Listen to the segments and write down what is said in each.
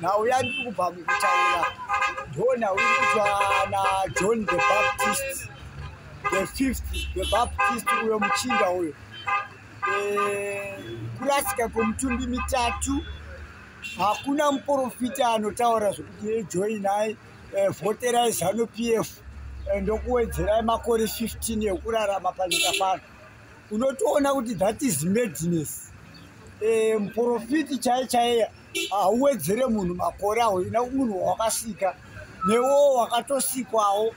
nhau yandi iri kubva mukutaura ndo nhau iri kutwa najohn the baptist the fifth the baptist uyo muchinda uyo eh, kurasika kwemutumbi mitatu hakuna muprofita anotaura zvekuti ejoinai eh, voterai zanu p f eh, ndokuwedzerai makore 15 ekurarama panyika pano unotoona kuti that is madness eh, muprofiti chaiye chaiye hauwedzere munhu makore awo ina munhu wakasika newo wakatosikwawo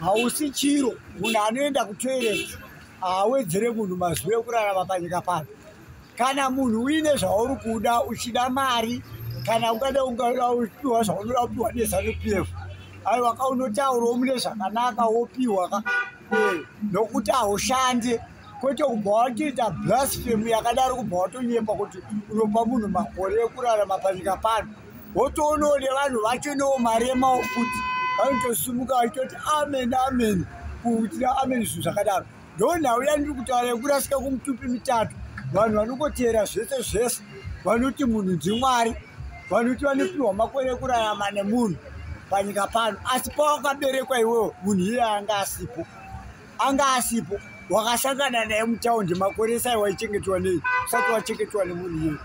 hausi chiro munhu anoenda kutoilet haawedzere munhu mazuva ekurarama panyika pano kana munhu uine zvauri kuda uchida mari kana ungada ungada upiwa zvaunoda kupiwa nezanu p f aiwa ka unotaurawo mune zvakanaka wopiwa ka nokuti haushandi kwete kubva watiita blasphemy yakadaro kubva watonyepa kuti unopa munhu makore ekurarama panyika pano wotoonawo nevanhu vachonewo mari yemawo futi vanotosimuka vachitoti amen amen kuitira amen zvinhu zvakadaro ndonhau yandiri kutaura yekurasika kumutupi mitatu vanhu vanongoteera zvese zvese vanoti munhu ndimwari vanhu kuti vanopiwa makore ekurarama nemunhu panyika pano asi pawakaberekwa iwewo munhu iye anga asipo anga asipo wakasangana naye mutaundi makore esai waichengetwa nei usati wachengetwa nemunhu iye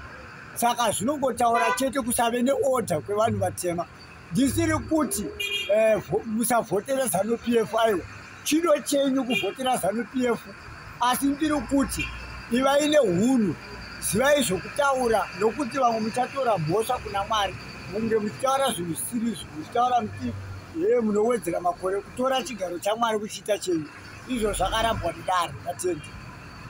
saka zvinongotaura chete kusave neorder kwevanhu vatema ndisiri kuti eh, musavhotera zanu p f aiwa chido chenyu kuvhotera zanu p f asi ndiri kuti ivai neunhu zivai zvokutaura nokuti vamwe muchatora mhosva kuna mwari munge muchitaura zvinhu zvisiriizvo muchitaura muti hee munowedzera makore kutora chigaro chamwari kuchiita chenyu izvo zvakarambwa mudare natendi